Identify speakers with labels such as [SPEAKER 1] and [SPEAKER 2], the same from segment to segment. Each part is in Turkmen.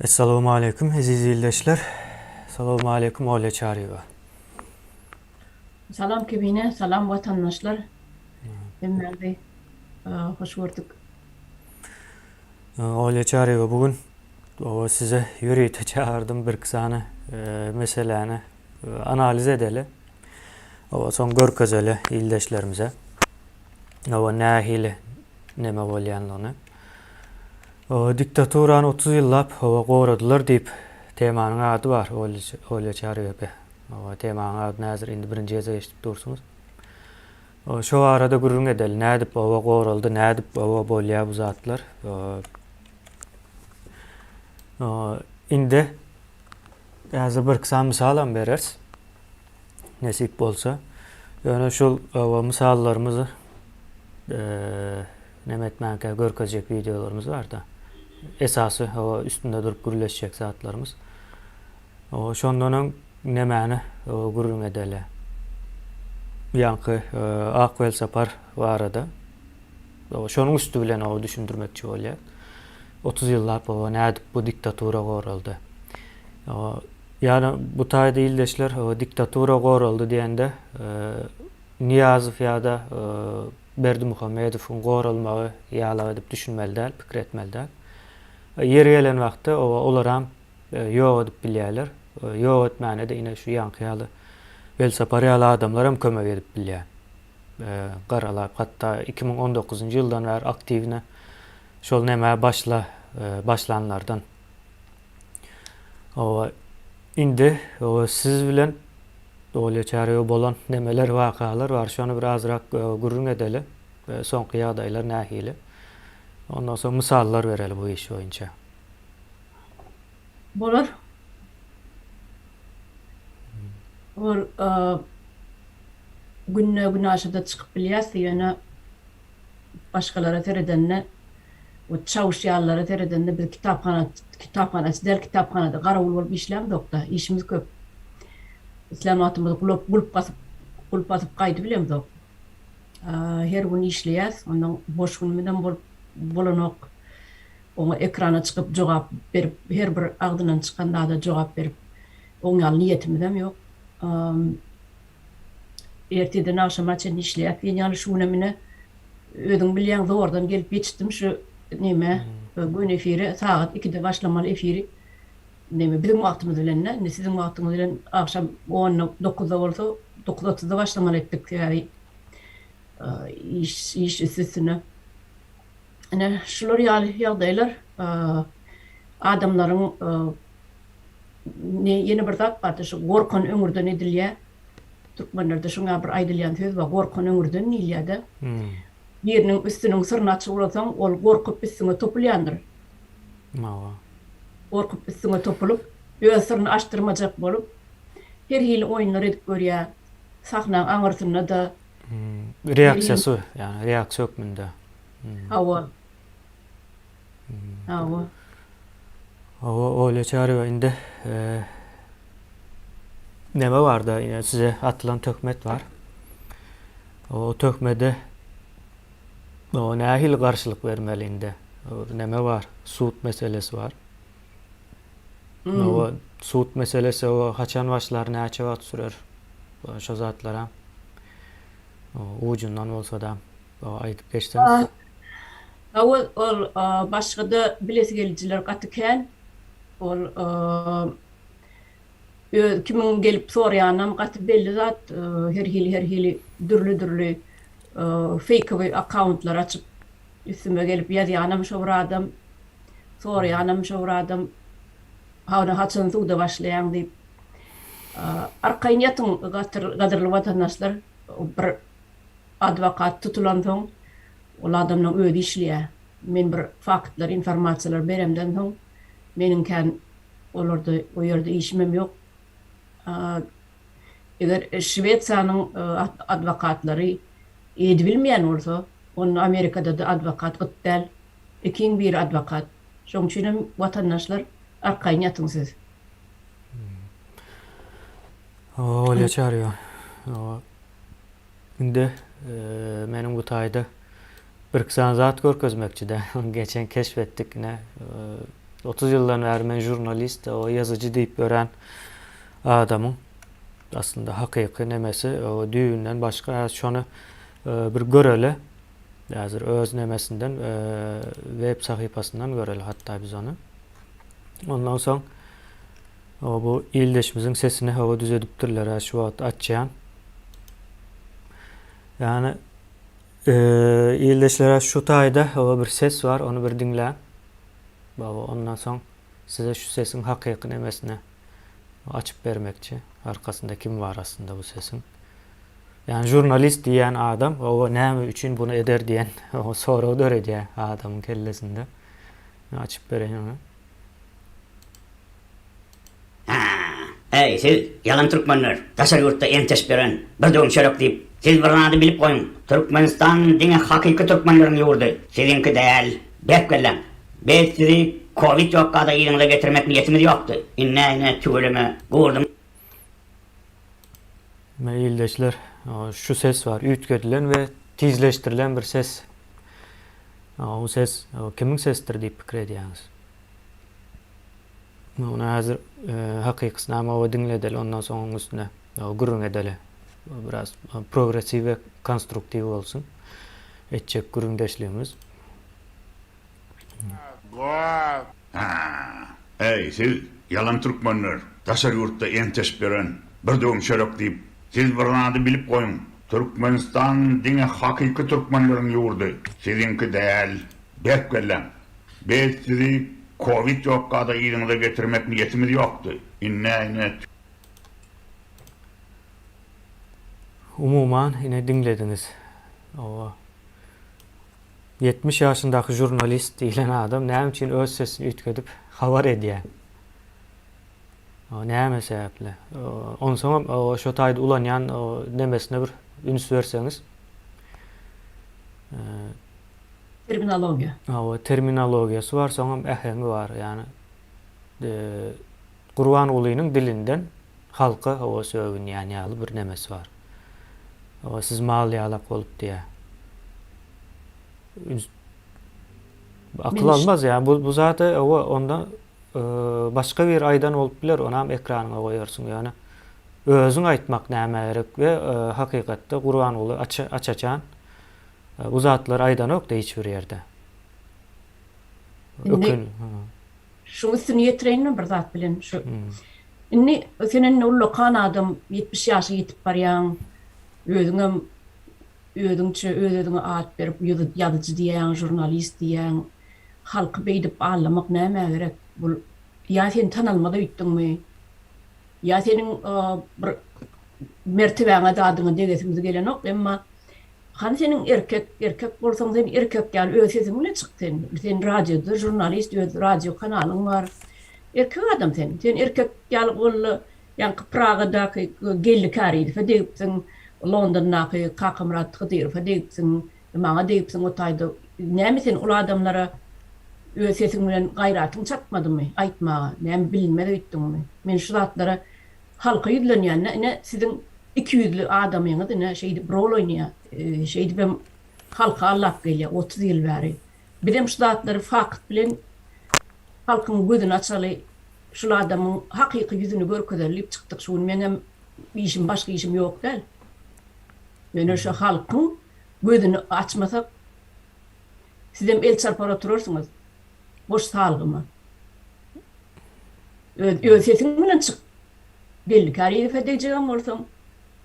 [SPEAKER 1] Essalamu aleýkum eziz ildeşler. Salamu aleýkum Olýa Çaryýewa.
[SPEAKER 2] Salam Kibine, salam watandaşlar. Hemmäňizi hoş gördük.
[SPEAKER 1] Olýa Çaryýewa bu gün size ýörite çagardym bir iki sany meseläni Analiz edeli. Oba soň görkezeli ildeşlerimize. Oba nähili neme bolýandygyny. Oba diktaturany otuz ýyllap oba goradylar diýip temanyň ady bar Olýa Çaryýepe. Oba temanyň ady nädir indi birinji gezek eşidip dursuňyz. Oba şo barada gürrüň edeli nädip oba goraldy nädip oba bolýa bu zatlar. Oba indi Häzir birki sany mysalam bereris, nesip bolsa. Ýöne şul oba mysallarymyzy neme etmänkä görkezjek wideolarymyz bar-da. Esasy oba üstünde durup gürleşjek zatlarymyz. Oba şondan öň nemäni oba gürrüň edeli. Ýaňky Ak Welsapar barada. Şonuň üsti bilen oba düşündirmekçi bolýar. Otuz ýyllap oba nädip bu diktatura goraldy? Ýa-da bu taýda ildeşler diktatura goraldy diýende, Nyýazow ýa-da Berdimuhamedowyň goralmagy ýalak edip düşünmeli däl, pikir etmeli däl. Ýeri gelen wagtda oba olaram ýok edip bilýärler. Ýok etmäne-de ine şu ýaňky ýaly Welsapar ýaly adamlaram kömek edip bilýär. garalap hatda iki müň on dokuzynjy ýyldan bäri aktiwne şol nämä başla başlanlardan oba indi oba siz bilen bolýa çärýe bolan nemeler wakalar bar şony bir azrak gürrüň edeli soňky ýagdaýlar nähili ondan soň mysallar bereli bu iş boýunça.
[SPEAKER 2] bolar. Ol günde günaşada çykyp bilýärsi ýöne başgalara seredende we çawuşýarlara seredende biz kitaphana kitaphanaçy däl kitaphanada garawul bolup işlämzokda işimiz köp. Isläm wagtymyz gulap gulp basyp gulp basyp gaýdyp bilemzok. Her gün işleýäs ondan boş günümizem bolup bolanok. oňa ekrana çykyp jogap berip her bir agzyndan çykan zada jogap berip oň ýaly niýetimizem ýok. Ertirden agşama çenli işleýäs diýen ýaly şu günem ine özüň bilýäň zordan gelip ýetişdim şu nämä göni efire sagat ikide başlamaly efiri neme biziň wagtymyz bilende indi siziň wagtyňyz bilen agşam onda dokuzda bolsa dokuz otuzda başlamaly etdik sebäbi iş iş üsti üstüne. Ine, şular ýaly ýagdaýlar adamlaryň ýene bir zat bardy, şu gorkan öňürden edilýär. Türkmenlerde şuňa bir aýdylýan söz bar, gorkan öňürden diýilýär-de. Biriniň üstüniň syryny açyp ulasaň, ol gorkup üstüňe topulýandyr. Mawa. Gorkup üstüňe topulyp, öz syryny açdyrmajak bolup, her hili oýunlar edip görýär. Sahnaň aňyrsynda-da, Reaksiýasy,
[SPEAKER 1] ýagny reaksiýa hökmünde. Hawa. Hawa. Hawa, Olýa Çarywa, indi näme barda, ýa size atylan töhmet bar. O töhmede o nähili garşylyk bermeli indi? Näme bar? Sud meselesi bar. Nowa sud meselesi owa haçan başlar näçe wagt sürer şo zatlara ujundan bolsada aýdyp geçseňiz. Hawa
[SPEAKER 2] ol başgada bilesi gelijiler gaty kän ol öz kimiň gelip soraýanynam gaty belli zat her hili her hili dürli dürli feýkowy akkauntlar açyp Üstüme gelip ýazýanam şo bir adam, soraýanam şo bir adam, Hany haçan suda başlaýaň diýip. Arkaýyn ýatyň gadyrly watandaşlar, bir adwokat tutulansoň, ol adamlaň özi işleýär. Men bir faktlary, informasiýalary beremden soň, meniň kän olarda o ýerde işimem ýok. Eger Şwesiýanyň adwokatlary edibilmeýän bolsa, onda Amerikada-da adwokat gyt däl. Ikiň biri adwokat. Şoň üçin hem watandaşlar arkaýyn ýatyň siz.
[SPEAKER 1] Oba bolýa çaryýa. Indi meniň bu taýda birki sany zat görkezmekçi-dä. Geçen keşp etdik ine, otuz ýyldan bäri men žurnalist, o ýazyjy diýip örän adamyň aslynda hakyky nemesi düýbünden başga. Häzir şony bir göreli. Häzir öz nemesinden, web sahypasyndan göreli hatda biz ony. Ondan soň Hawa bu ildeşimiziň sesini hawa düzedipdirlerä şu wagt açýan. Ýani ildeşlere şu taýda hawa bir ses bar ony bir diňläň. Baba ondan soň size şu sesiň hakyky nemesini açyp bermekçi. Arkasynda kim bar aslynda bu sesiň. Ýani žurnalist diýýän adam hawa näme üçin bunu eder diýen sorag döredýär adamyň kellesinde. Açyp bereýin ony.
[SPEAKER 3] Äý, siz, ýalan türkmenler, daşary ýurtda enteş beren bir döwüm çörek diýip, siz bir zady bilip goýuň, Türkmenistan diňe hakyky türkmenleriň ýurdy, siziňki däl. Berk belläň. Biz sizi kowid ýokada yzyňyza getirmek niýetimiz ýokdy. Indi näme, tüweleme, gurduň.
[SPEAKER 1] Mine ildeşler şu ses bar üýtgedilen we tizleşdirilen bir ses. Bu ses kimiň sesidir diýip pikir edýäňiz? Muny häzir e, hakykysyny amawa diňledeli, ondan soň onuň üstüne gürrüň edeli. Biraz progressiw we konstruktiw bolsun. Etjek gürrüňdeşligimiz.
[SPEAKER 4] Haa, äý, siz, ýalan türkmenler, daşary ýurtda enteşip ýören bir döwüm çörek diýip, siz bir zady bilip goýuň, Türkmenistan diňe hakyky türkmenleriň ýurdy, siziňki däl, berk belläň. Biz sizi kowid ýokka-da yzyňyza getirmek niýetimiz ýokdy, ine, ine, tüw.
[SPEAKER 1] Umuman, ine diňlediňiz. Hawa. Ýetmiş ýaşyndaky žurnalist diýlen adam näme üçin öz sesini üýtgedip habar edýär? Näme sebäpli? Onsoňam şo taýda ulanýan nemesine bir üns berseňiz.
[SPEAKER 2] Terminologiýa. Hawa,
[SPEAKER 1] terminologiýasy bar, soňam äheňi bar. Ýagny Gurbangulynyň dilinden halka hawa sögünýän ýaly bir nemesi bar. Hawa siz mal ýalak bolup diýýär. Üns akyl almaz ýa bu bu zada hawa onda başga biri aýdan bolup biler onam ekranyňa goýarsyň ýöne özüň aýtmak nämä gerek we hakykatda Gurbanguly aç aç-açan bu zatlary aýdanokda hiç bir ýerde. Ökün
[SPEAKER 2] Şuň üstüni ýetireýin men bir zat bilen şu. Indi sen indi ullakan adam, ýetmiş ýaşa ýetip barýaň. Özüňem özüňçe öz-özüňe at berip ýazyjy diýýäň, žurnalist diýýäň. Halky beýdip aldamak nämä gerek? Bu ýa sen tanalmaza öýtdüňmi? Ýa seniň bir mertebäňe, zadyňa degesiňiz gelenok, emma Hany seniň erkek erkek bolsaň sen erkek ýaly öz sesiň bilen çyk sen sen radioda žurnalist öz radio kanalyň bar erkek adam sen sen erkek ýaly bolda ýaňky pragadaky geldi karilowa degipsiň londondaky kakamyrat hydyrowa degipsiň maňa degipsiň o taýda näme sen ol adamlara öz sesiň bilen gaýratyň çatmadymy aýtmaga näme bilinmez öýtdüňmi men şu zatlara Halka ýüzlenýände ine siziň iki ýüzli adamyňyz ine şeýdip rol oýnaýa, şeýdibem halka allap gelýä otuz ýyl bäri. Bizem şu zatlary fakt bilen halkyň gözüni açaly, şul adamyň hakyky ýüzüni görkezeli diýip çykdyk şu gün meňem işim başga işim ýok däl. Ýöne şu halkyň gözüni açmasak sizem el çarpar oturarsyňyz. Goş salgyma. Öz öz sesiň bilen çyk. Belli Kariýewe deýjegem bolsaň,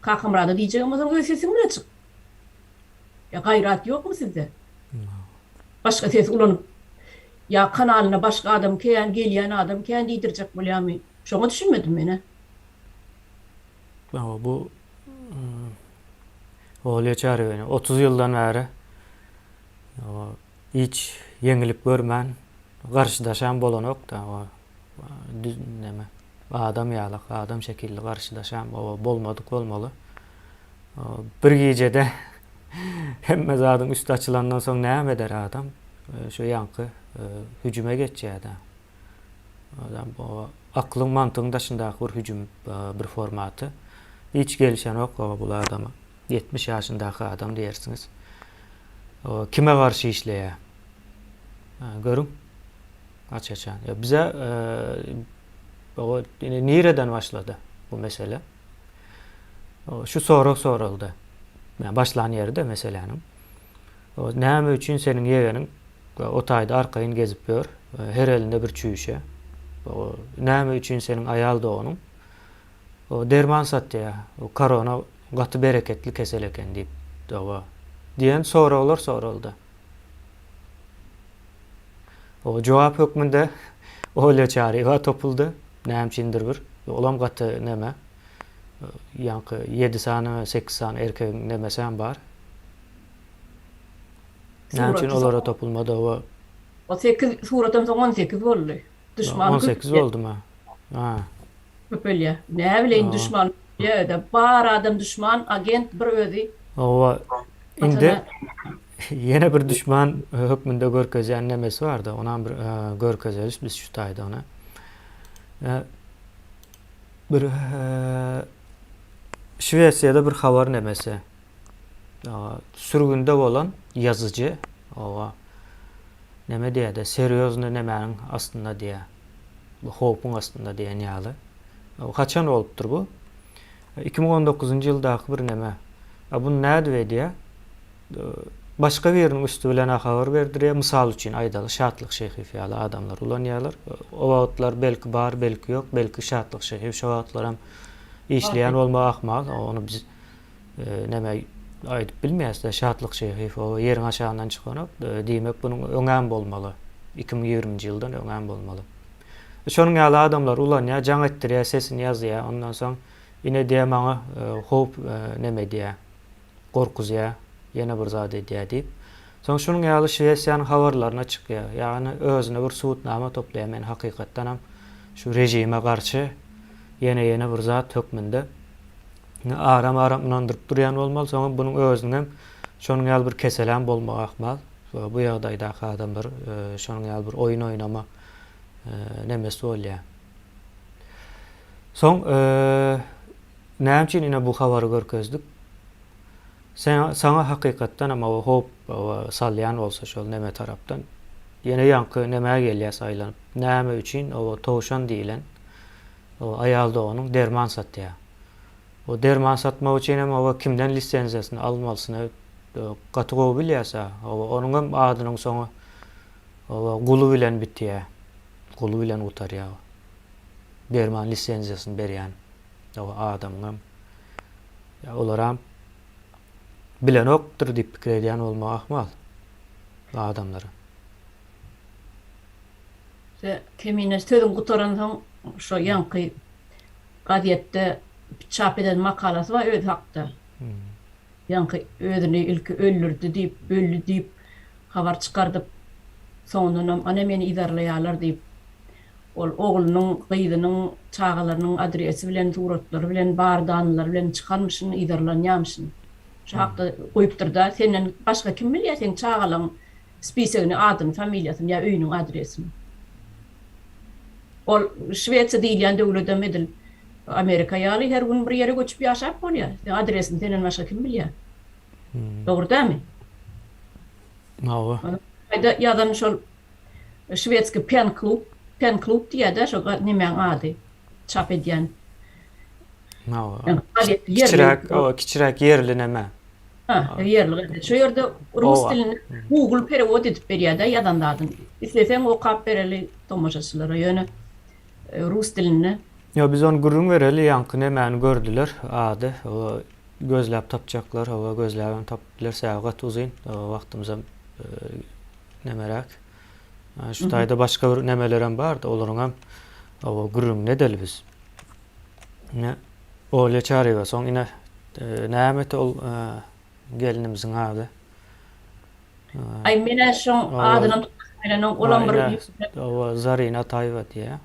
[SPEAKER 2] Kakamyrada diýjegem bolsaň öz sesiň bilen çyk. Ýa gaýrat ýokmy sizde? Başga ses ulanyp ýa kanalyna başga adam kän, gelýän adam kän diýdirjek bolýamy? Şoňa düşünmedim men-ä. Hawa
[SPEAKER 1] bu Olýa Çarýewany otuz ýyldan bäri Hiç ýeňillik görmän garşydaşan bolanokda o düz neme adam ýaly adam şekilli garşydaşan oba bolmadyk bolmaly bir gijede hemme zadyň üsti açylandan soň näme eder adam şu ýaňky hüjüme geçýädä adam oba aklyň mantygyň daşyndaky bir hüjüm bir formaty hiç gelişenok oba bul adama. Ýetmiş ýaşyndaky adam diýersiňiz. O kime garşy işleýär? Görüň. Aç-açan. Bize o nireden başlady bu mesele? Şu sorag soraldy. Başlan ýeri-de meseläniň. O näme üçin seniň ýegeniň o taýda arkaýyn gezip ýör? Her elinde bir çüýşe. O näme üçin seniň aýal doganyň O derman satýa, o korona gaty bereketli kesel eken diýip, dawa. Diýen soraglar soraldy. O jogap hökmünde Olýa Çaryýewa topuldy. Näme üçindir bir. Olam gaty neme. Ýaňky ýedi sany, sekiz sany erkegiň nemesäm bar. Näme üçin olara topulma dawa. O sekiz
[SPEAKER 2] suradan soň on sekiz boldy. Duşman köp. On sekiz boldum ha.
[SPEAKER 1] Ha. Köpelýä.
[SPEAKER 2] Näbileýin duşman ýerde bar adam duşman, agent bir özi. Hawa.
[SPEAKER 1] Indi ýene bir duşman hökmünde görkezýän nemesi bardy. Onam bir görkezeris biz şu taýda ona. Bir Şwesiýada bir habar nemesi. Ýa sürgünde bolan ýazyjy oba neme diýýärdi serýozny nemäniň astynda diýýä bu howpuň astynda diýen ýaly bu haçan bolupdyr bu iki müň on dokuzynjy ýyldaky bir neme a buny nädip edýä başga biriniň üsti bilen a habar berdirýä mysal üçin aýdaly şatlyk şehiýew ýaly adamlar ulanýarlar o wagtlar belki bar belki ýok belki şatlyk şehiýew şo wagtlaram işleýän bolmagy ahmal ony biz Näme aýdyp bilmeýäs-dä Şatlyk Şeýhiýew o ýeriň aşagyndan çykanok. Diýmek bunuň öňem bolmaly. 2020-nji ýyldan öňem bolmaly. Şonuň ýaly adamlar ulanýar, jaň etdirýär, sesini ýazýar. Ondan soň ine diýýär maňa howp näme edýär. Gorkuzýar, ýene bir zat edýär diýip. Soň şunuň ýaly Şwesiýanyň habarlaryna çykýar. Ýagny özüne bir subutnama toplaýar men hakykatdanam şu režime garşy ýene ýene bir zat hökmünde. Indi aram-aram ynandyryp durýan bolmaly, soňam bunuň özüniň hem şonuň ýaly bir keseläm bolmagy ahmal. Bu ýagdaýdaky adamlar şonuň ýaly bir oýun oýnama nemes bolýar. Soň näme üçin ine bu habary görkezdik? Saňa hakykatdan hem o howp salýan bolsa şol neme tarapdan, ýene ýaňky nemä gelýäs aýlanyp, näme üçin o towşan diýlen Aýal doganyň derman satýar. O derman satmak üçin hem oba kimden lisenziýasyny almalysyny gaty gowy bilýärsa, oba onuň hem adynyň soňy oba guly bilen bitýär. Guly bilen gutarýar. Derman lisenziýasyny berýän oba adamyň hem. Ýa olaram bilenokdyr diýip pikir edýän bolmak ahmal adamlara.
[SPEAKER 2] Kemine sözüni gutaransoň, şo ýaňky gazetde çap eden makalasy bar özi hakda. Ýaňky özüni ilki öldürdi diýip, öldi diýip habar çykardyp, soňundanam ana meni yzarlaýarlar diýip, ol oglunyň, gyzynyň, çagalarynyň adresi bilen, suratlary bilen, bar danylary bilen çykarmyşyn, yzarlanýamyşyn. Şo hakda goýupdyr-da. Senden başga kim bilýär, seň çagalaň spisegini, adyny, familiýasyny ýa öýüniň adresini. Ol Şwesiýa diýilýän döwledem edil Amerika ýaly her gün bir ýere göçüp ýaşap bolýar. Seň adresiňi senden başga kim bilýär? Dogry dälmi? Hawa.
[SPEAKER 1] Haýda
[SPEAKER 2] ýazan şol şwedski pen klub, pen klub diýýär-dä şo nemäň ady çap edýän. Hawa.
[SPEAKER 1] Kiçiräk, hawa, kiçiräk ýerli neme. Hä, ýerli
[SPEAKER 2] gaty. Şu ýerde rus dilini Google perewod edip berýär-de ýazan zadyny. Isleseň okap bereli tomaşaçylara, ýöne rus dilinde. Ýok, biz ony gürrüň
[SPEAKER 1] bereli, ýaňky nemäni gördüler, ady. Ola gözläp tapjaklar, hawa, gözläbem tapyp biler, sebäbi gaty uzyn, wagtymyzam nemeräk. Şu taýda başga bir nemelerem bar-da, olaryňam, hawa, gürrüňini edeli biz. Ine, Olýa Çaryýewa. Soň ine, nämeti ol gelnimiziň ady? Aý, men-ä
[SPEAKER 2] şoň adynam tutdum bilenok, olam bir ýüpüne. Hawa, Zarina
[SPEAKER 1] Ataýewa diýýär.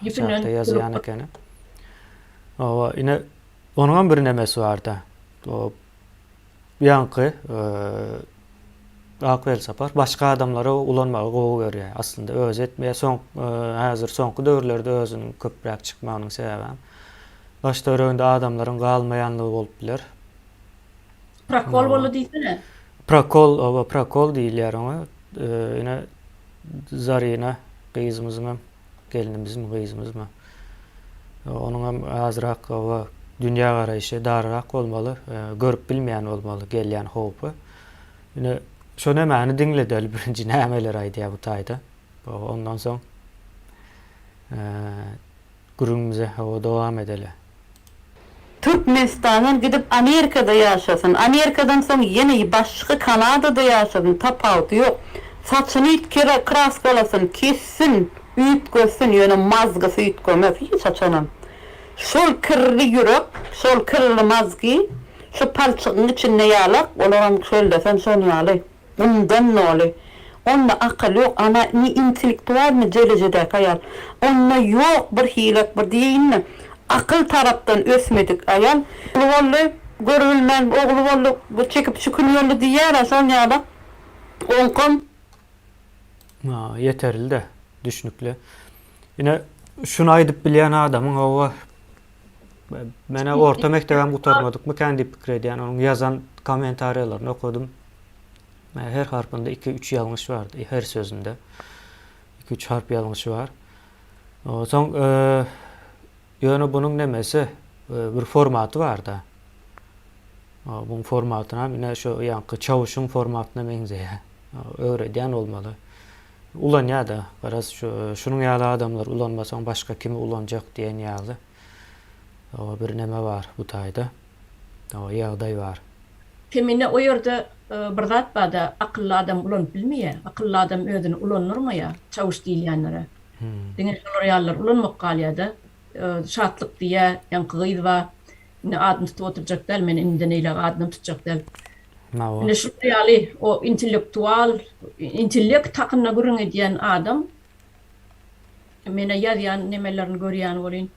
[SPEAKER 1] Ýüpünden tutulupdyr. Ýazýan ekeni. Hawa, ine, onuňam bir nemesi bar-da. Bu ýaňky ak welsapar başga adamlara ulanmagy gowy görýär. Aslynda özi etmeýär. Soň häzir soňky döwürlerde özüniň köpräk çykmagynyň sebäbem daş-töwereginde adamlaryň galmaýanlygy bolup biler.
[SPEAKER 2] Prokol boldy diýsene. Prokol, oba
[SPEAKER 1] prokol diýilýär oňa. Ine Zarina gyzymyzyňam gelnimizmi, gyzymyzmy? Onuň hem azrak oba dünýä garaýşy daryrak bolmaly, görüp bilmeýän bolmaly gelýän howpy. Ine, şo nämäni diňledeli birinji nämeler aýdýar bu taýda. Ondan soň gürrüňimize dowam edeli. Türkmenistandan
[SPEAKER 5] gidip Amerikada ýaşasyn, Amerikadan soň ýene başga Kanadada ýaşasyn tapawudy ýok. Saçyny üýtgerä kraskalasyn, kessin, üýtgetsin, ýöne mazgysy üýtgemez hiç haçanam. Şol kirli ýürek, şol kirli mazgy şu palçygyň içinde ýalak, olaram şol desen şol ýaly. Bundan noly? Onda akyl ýok, ana ne intellektual ne derejedäki aýal. Onda ýok bir hilat bir diýeýinmi? Akyl tarapdan ösmedik aýal. Uly boldy, görübilmän ogly boldy, bu çekip çükün boldy diýýär-ä şol ýala. Oňkam. A,
[SPEAKER 1] ýeterli-dä, düşnükli. Ine, şuny aýdyp bilýän adamyň hawa, men-ä orta mekdebem gutarmadykmykän diýip pikir edýän, onuň ýazan kommentariýalaryny okadym. Maňa her harpynda iki-üç ýalňyş bardy, e, her sözünde. Iki-üç harp ýalňyşy bar. Onsoň, e, ýöne bunuň nemesi, e, bir formaty bar-da. Buň formatyna ine şu ýaňky çawuşyň formatyna meňzeýär. Öwredýän bolmaly. Ulanýar-da, garaz şu şunuň ýaly adamlar ulanmasaň başga kimi ulanjak diýen ýaly bir neme bar bu taýda. Hawa ýagdaý bar. Kemine o
[SPEAKER 2] ýerde bir zat bada akylly adam ulanyp bilmeýä akylly adam özüni ulandyrmaýa çawuş diýilýänlere diňe şolar ýalylar ulanmak galýada şatlyk diýýä ýaňky gyz ba indi adyny tutup oturjak däl men indiden eýläk adynam tutjak däl indi şular ýaly o intellektual intellekt hakynda gürrüň edýän adam menä ýazýan nemelerini görýän welin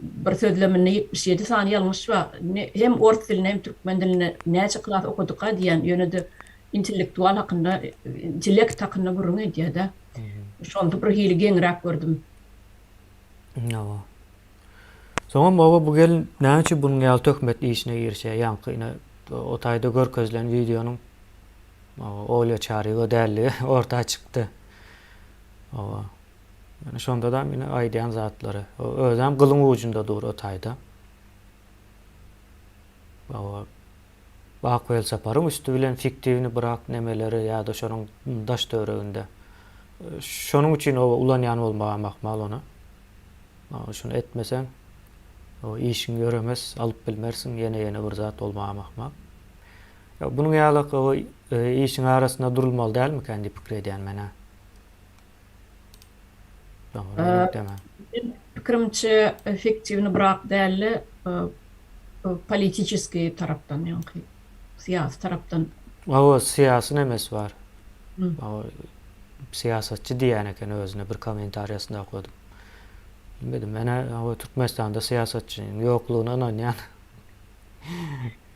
[SPEAKER 2] Bir sözleminde ýetmiş ýedi sany ýalňyş bar. Indi hem ors dilinde hem türkmen dilinde näçe klas okadyka diýýän, ýöne-de intellektual hakynda, intellekt hakynda gürrüň edýär-dä. Şonda bir hili geňräk gördüm.
[SPEAKER 1] Hawa. Soňam oba bu gelin näme üçin bunuň ýaly töhmet işine girişýär? Ýaňky ine o taýda görkezilen wideonyň Olýa Çaryýewa däldigi orta çykdy. Hawa. Ýöne şondadam ine aýdýan zatlary. Özem gylyň ujunda dur o taýda. Ak welsaparyň üsti bilen fiktiwni brak nemeleri ýa-da şonuň daş-töwereginde. Şonuň üçin oba ulanýan bolmagam ahmal ony. Şuny etmeseň, işiň ýöremez, alyp bilmersiň, ýene-ýene bir zat bolmagam ahmal. Ýa, bunuň ýaly işiň arasynda durulmaly dälmikä diýip pikir edýän men-ä.
[SPEAKER 2] Meniň pikirimçe efektiwny brak dälde politiçeskiý tarapdan ýaňky syýasy tarapdan. Hawa syýasy
[SPEAKER 1] nemes bar. Syýasatçy diýýän eken özüne bir kommentariýasynda okadym. Bilmedim menä hawa Türkmenistanda syýasatçynyň ýoklugyna ynanýan.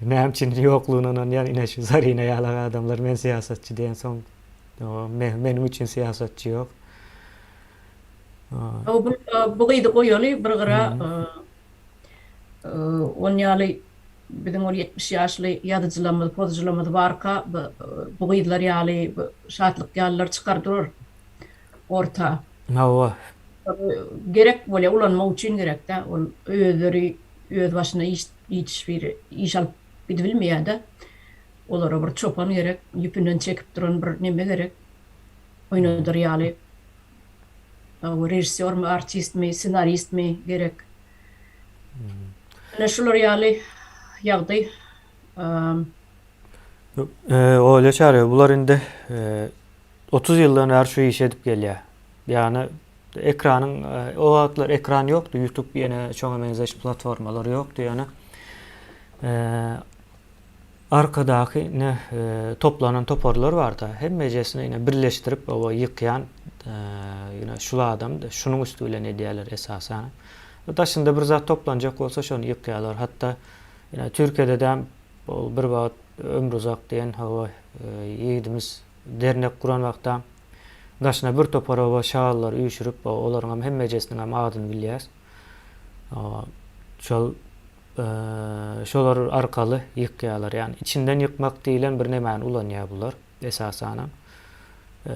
[SPEAKER 1] Näme üçin ýoklugyna ynanýan ine şu Zarina ýalak adamlar men syýasatçy diýensoň. Meniň üçin syýasatçy ýok.
[SPEAKER 2] Bu gyzy goýaly bir gyra. Ony ýaly biziň ol ýetmiş ýaşly ýazyjylarymyz, pozyjylarymyz barka bu gyzlar ýaly, bu Şatlyk ýalylar çykar durar orta. Hawa. Gerek bolýar, ulanmak üçin gerek-dä. Ol özleri özbaşyna hiç bir iş alyp gidibilmeýär-de. Olara bir çopan gerek, ýüpünden çekip duran bir neme gerek, oýnadar ýaly. Hawa, režissýormy, artistmi, ssenaristmi gerek. Ine, şular ýaly ýagdaý.
[SPEAKER 1] Olýa Çaryýewa, bular indi otuz ýyldan bäri şu işi edip gelýär. Ýagny, ekranyň, o wagtlar ekran ýokdy, Ýutub ýene şoňa meňzeş platformalar ýokdy ýöne. Arkadaky ne toplanan toparlar barda hemmejesini ine birleşdirip oba ýykýan ine şul adam şunuň üsti bilen edýäler esasanam. Daşynda bir zat toplanjak bolsa şony ýykýalar hatda ine türkiýededem ol bir wagt Ömruzak diýen hawa ýigidimiz dernek guran wagtam daşyna bir topar oba şalylar üýşürip olaryňam hemmejesiniňem adyny bilýäs. Şol şolar arkaly ýykýarlar. Ýagny içinden ýykmak diýilen bir nemäni ulanýar bular esasanam.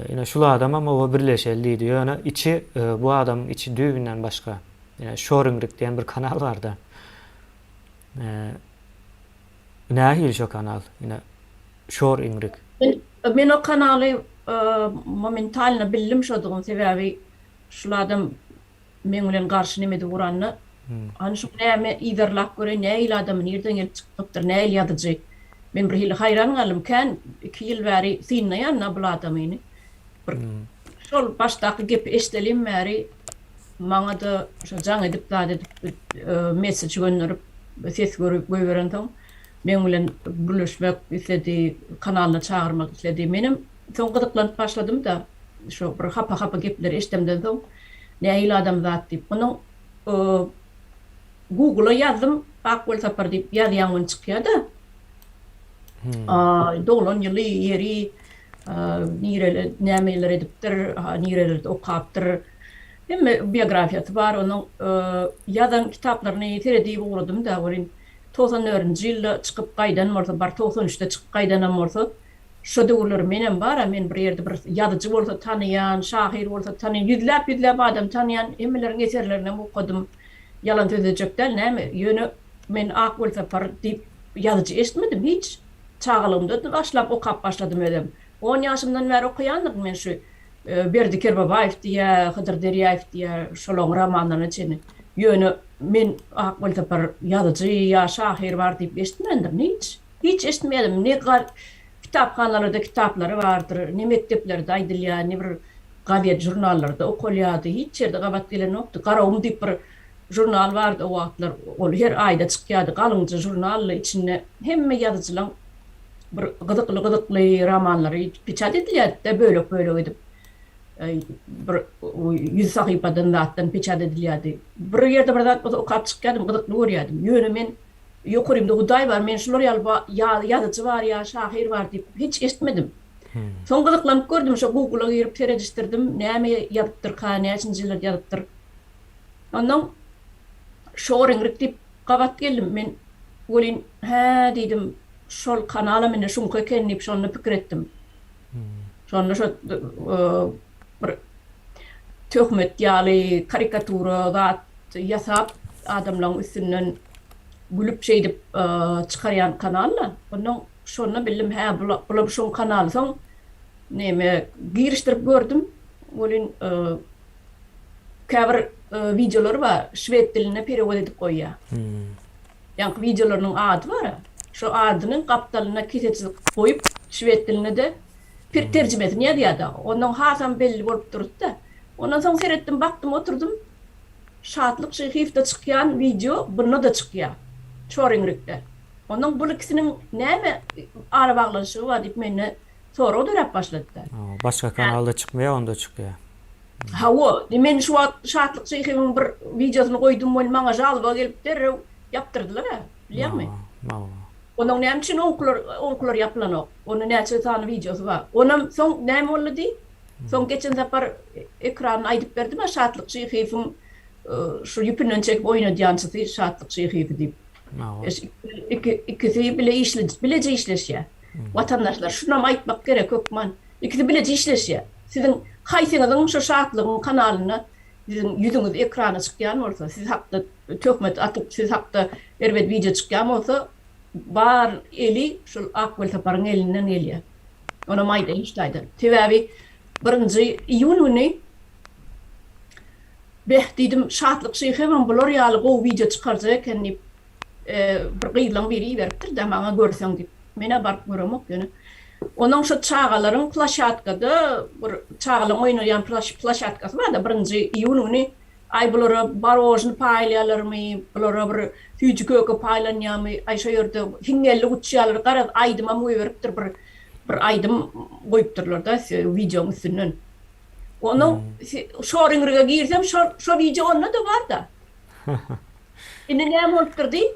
[SPEAKER 1] Ine şul adamam oba birleşeli diýdi. Ýöne içi bu adamyň içi düýbünden başga. Ýa Şoringrik diýen bir kanal barda. Nähili şo kanal? Ine Şoringrik. Men
[SPEAKER 2] o kanaly momentalno bildim şodugyny sebäbi şul adam meň bilen garşy nemedi guranda, hany şuň näme, yzarlap göreý, nähili adamy, nirden gelip çykdypdyr, nähili ýazyjy? Men birhili haýran galdym, kän iki ýyl bäri synlaýan-da bul adamyny. Bir şol başdaky gepi eşidelim bäri maňa-da şo jaň edip zat edip messeç gönderip, ses göýberensoň, meň bilen gürleşmek isledi, kanalyna çagyrmak isledi. Menem Soň gyzyklanyp başladym-da, şu bir hapa-hapa gepleri eşdemden soň, nähili adamzat diýip, onuň Google-a ýazdym, Ak welsapar diýip ýazýaň ony çykýa-da, doglan ýyly, ýeri, nireli, nämeler edipdir, nirelerde okapdyr, hemme biografiýasy bar onuň, ýazan kitaplaryny seredip ugradym-da, welin togsan dördünji ýylda çykyp gaýdan bolsa, bar togsan üçde çykyp gaýdanam bolsa, Şo döwürler menem bar-a, men bir ýerde bir ýazyjy bolsa tanaýan, şahyr bolsa tanaýan, ýüzläp-ýüzläp adam tanaýan, hemmeleriň eserlerinem okadym. Ýalan sözlejek däl, näme, ýöne men Ak Welsapar diýip ýazyjy eşitmedim hiç. Çagalygymda başlap okap başladym özem. On ýaşymdan bäri okaýandyryn men şu Berdi Kerbabaýew diýä, Hydyr Derýaýew diýä şolaň romanlaryna çenli. Ýöne men Ak Welsapar ýazyjy ýa şahyr bar diýip eşitmändirin hiç. Hiç eşitmedim ne kitaphanalarda kitaplary bardyr ne mekdeplerde aýdylýar ne bir gazet žurnallarda okalýardy hiç ýerde gabat gelenokdy Garagum diýip bir žurnal bardy o wagtlar ol her aýda çykýardy galyňja žurnaldy içinde hemme ýazyjylaň bir gyzykly gyzykly romanlary peçat edilýärdi-de bölek bölek edip bir ýüz sahypadan zatdan peçat edilýärdi bir ýerde bir zat bolsa okap çykýardym gyzykly görýärdim ýöne men Ýokarymda Hudaý bar, men şular ýaly ba ýaly ýazyjy bar ýa şahyr bar diýip hiç eşitmedim. Soň gyzyklanyp gördüm, şo Google-a girip seredişdirdim, näme ýazypdyrka, näçinji ýyllarda ýazypdyr. Onnoň Şoringrik diýip gabat geldim. Men welin, hä, diýdim, şol kanal hem indi şuňky eken diýip, şonda pikir etdim. Şonda şo bir töhmet ýaly karikatura zat ýasap adamlaň üstünden gülüp şeýdip çykarýan kanal-da. Ondan şonda bildim hä bulam şoň kanaly soň neme girişdirip gördüm welin Käbir wideolary bar, şwed diline perewod edip goýýar. Ýaňky wideolarynyň ady bar, şo adynyň gapdalyna kese çyzyk goýup, şwed diline-de terjimesini ýazýar dagy. Onnoň hasam belli bolup durdy-da. Ondan soň seretdim, bakdym, oturdym. Şatlyk Şyhyýewde çykýan wideo bunda-da çykýar. Çoringrikde. Onnoň bul ikisiniň näme arabaglanyşygy bar diýip mende sorag döräp başladyda. Hawa, başga kanalda
[SPEAKER 1] çykmaýar, onda çykýar. Hawa,
[SPEAKER 2] men şu wagt Şatlyk Şeýhewiň bir wideosyny goýdum we maňa žalba gelip derrew ýapdyrdylar-a, bilýäňmi? Hawa. Onuň näme üçin oňkular, oňkular ýapylanok? Onuň näçe sany wideosy bar? Onam soň näme boldy diý? Soň geçen sapar ekranyny aýdyp berdim-ä Şatlyk Şeýhewiň şu ýüpünden çekip oýnadýançysy Şatlyk Şeýhewi diýip. Hawa. Ikisi bile işli, bileje işleşýär. Watandaşlar şunam aýtmak gerek hökman ikisi bileje işleşýär. Siziň haýsyňyzyň şo Şatlygyň kanalynda siziň ýüzüňiz ekrana çykýan bolsa, siz hakda töhmet atyp, siz hakda erbet wideo çykýan bolsa bar eli şol Ak Welsaparyň elinden gelýär. Onam aýdaýyn şu taýdan. Sebäbi birinji iýun güni beh diýdim Şatlyk şyhymam bular ýaly gowy wideo çykarjak eken diýip bir gyzlaň biri iberipdir-dä maňa görseň diýip. Men-ä baryp göremok ýöne. Onuň şu çagalaryň plaşatkada bir çagalaryň oýnaýan plaşatkasy bar-da, birinji iýun güni aý bulara barožny paýlaýarlarmy, bulara bir süýji-köke paýlanýarmy, aý şo ýerde hiňňellik uçýarlar, garaz aýdymam goýberipdir bir, bir aýdym goýupdyrlar-da wideoň üstünden. Onuň şor-iňrige girsem şo wideo onda-da bar-da. Indi näme bolupdyr diý?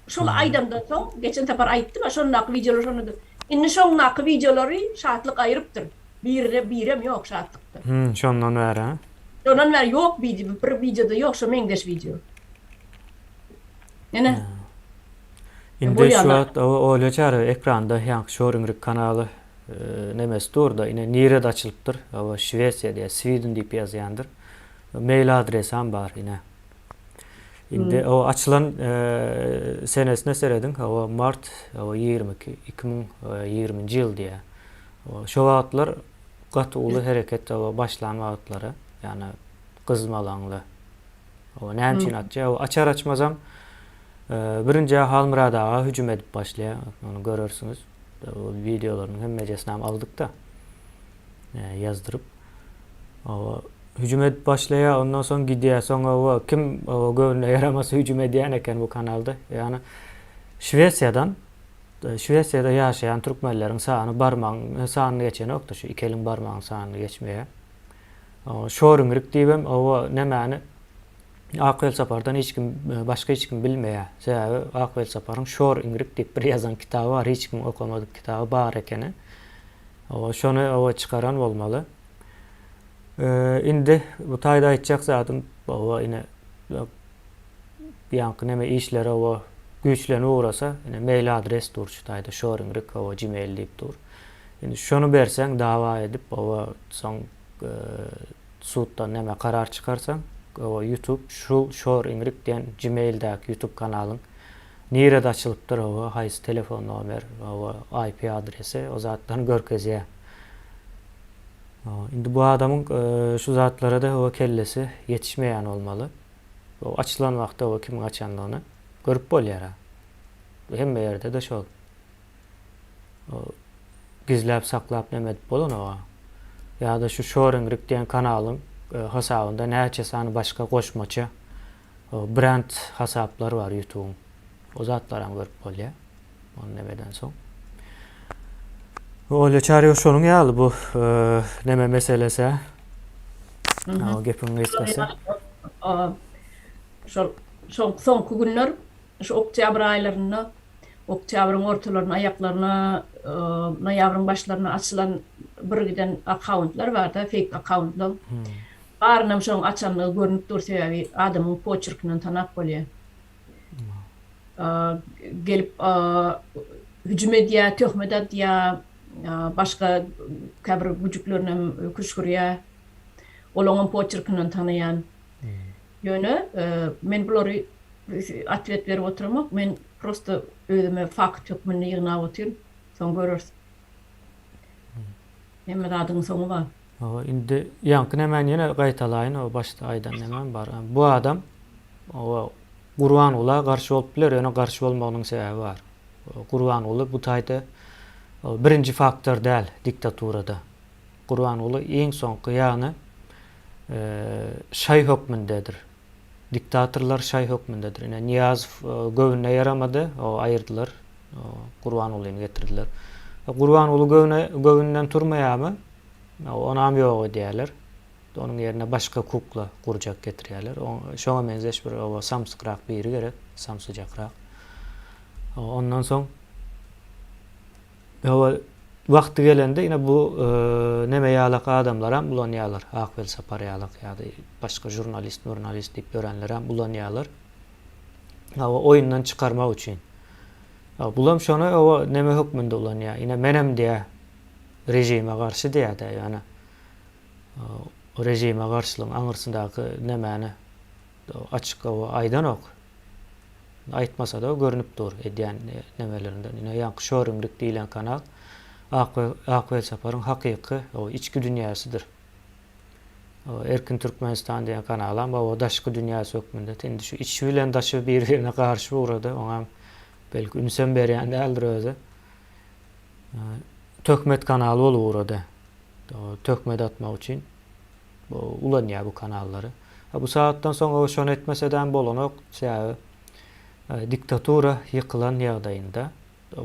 [SPEAKER 2] Şol aýdamdan soň, geçen sapar aýtdym-a, şondaky wideolar şondadyr. Indi şondaky wideolary Şatlyk aýyrypdyr. Birine birem ýok Şatlykda. Hum, şondan bäri-hä?
[SPEAKER 1] Şondan bäri ýok
[SPEAKER 2] bidi, bir wideoda ýok şo meňzeş wideo. Ene.
[SPEAKER 1] Indi şu wagt Olýa
[SPEAKER 2] Çary
[SPEAKER 1] ekranda ýaňky Şoringrik kanaly nemesi dur-da, ine nirede açylypdyr? Hawa, Şwesiýada ýa Sweden diýip ýazýandyr. Mail adresam bar ine. Indi o açylan senesine serediň, hawa mart hawa ýigrimi iki, iki müň ýigriminji ýyl diýýär. Şo wagtlar gaty uly hereket hawa başlan wagtlary, ýagny gyzmalaňly. Hawa näme üçin atýar? Hawa açar-açmazam birinjä Halmyrat aga hüjüm edip başlaýar, ony görersiňiz. Ol wideolarynyň hemmejesinem aldyk-da. ýazdyryp oba hüjüm edip başlaýar ondan soň gidýär soň oba kim oba göwnüne ýaramasa hüjüm edýän eken bu kanalda ýagny şwesiýadan e, şwesiýada ýaşaýan türkmenleriň sany barmagyň sanyny geçenokda şu iki eliň barmagyň sanyny geçmeýär Şoringrik diýibem owa nämäni Ak welsapardan hiç kim e, başga hiç kim bilmeýär. Sebäbi Ak welsaparyň Şor Ingrik diýip bir ýazan kitaby bar, hiç kim okamadyk kitaby bar ekeni. Hawa, şony hawa çykaran bolmaly. Indi bu taýda aýtjak zadym hawa ine bu ýaňky neme işleri hawa güýçlenip ugrasa, ine mail adres dur şu taýda shoringrik hawa gmail diýip dur. Indi şony berseň dawa edip hawa soň suddan neme karar çykarsaň hawa youtube şu shoringrik diýen gmaildäki youtube kanalyň Nirede açylypdyr oba haýsy telefon nomer oba IP adresi o zatlaryny görkezýä. Indi bu adamyň şu zatlarada oba kellesi ýetişmeýän bolmaly. Oba açylan wagty oba kimiň açandygyny görüp bolýara. Bu hemme ýerdede şol. Gizläp saklap neme edip bolan oba. Ýada şu şoringrik diýen kanalyň hasabynda näçe sany başga goşmaça Brend hasaplary bar ýutubyň. O zatlaram görüp bolýar. Ony neme edensoň. Olýa çaryýo şonuň ýaly bu neme meselesi. Gepiň gysgasy.
[SPEAKER 2] Şol soňky günler Şu oktýabr aýlarynda, oktýabryň ortalaryna, aýaklaryna, noýabryň başlaryna açylan birgiden akkauntlar bar-da, feýk akkauntlar. Barynam şoň açandygy görnüp dur, sebäbi adamyň poçerkinden tanap bolýar. Gelip hüjüm edýär, töhmet atýar, başga käbir güjüklerinäm küşgürýär. Olaňam poçerkinden tanaýan. Ýöne men bulary otwet berip oturamok, men prosta özüme fakt hökmünde ýygnap otyryn, soň göreris. Hemme zadyň soňy bar. Hawa, indi
[SPEAKER 1] ýaňky nämäni ýene gaýtalaýyn, o başda aýdan nämäm bar. Bu adam o Gurbangula garşy bolup biler, ýöne garşy bolmagynyň sebäbi bar. Gurbanguly bu taýda birinji faktor däl diktaturada. Gurbanguly iň soňky ýagny şaý hökmündedir. Diktatorlar şaý hökmündedir. Ine Niýazow göwnüne ýaramady, o aýyrdylar. Gurbangulyny getirdiler. Gurbanguly göwne göwünden turmaýamy? Onam ýok edýärler. Onuň ýerine başga kukla gurjak getirýärler. Şoňa meňzeş bir oba samsykrak biri gerek, samsyjakrak. Ondan soň Hawa, wagty gelende ine bu neme ýalak adamlaram ulanýarlar, Ak welsapar ýalak ýa-da başga žurnalist, murnalist diýip ýörenlerem ulanýarlar. Hawa, oýundan çykarmak üçin. Hawa, bulam şony hawa neme hökmünde ulanýar. Ine menem diýýär, režime garşy diýýär-de, ýöne režime garşylygyň aňyrsyndaky nemäni açyk hawa aýdanok. aýtmasa-da görnüp dur edýän nemelerinden. Ine, ýaňky şörümlik diýlen kanal Ak Welsaparyň hakyky içki dünýäsidir. Erkin Türkmenistan diýen kanalam oba daşky dünýäsi hökmünde, indi şu içi bilen daşy bir-birine garşy ugrady, oňam belki ünsem berýän däldir özi. Töhmet kanaly bolup ugrady. Töhmet atmak üçin ulanýar bu kanallary. Ha bu sagatdan soň o şony etmesedäm bolanok, sebäbi diktatura ýykylan ýagdaýynda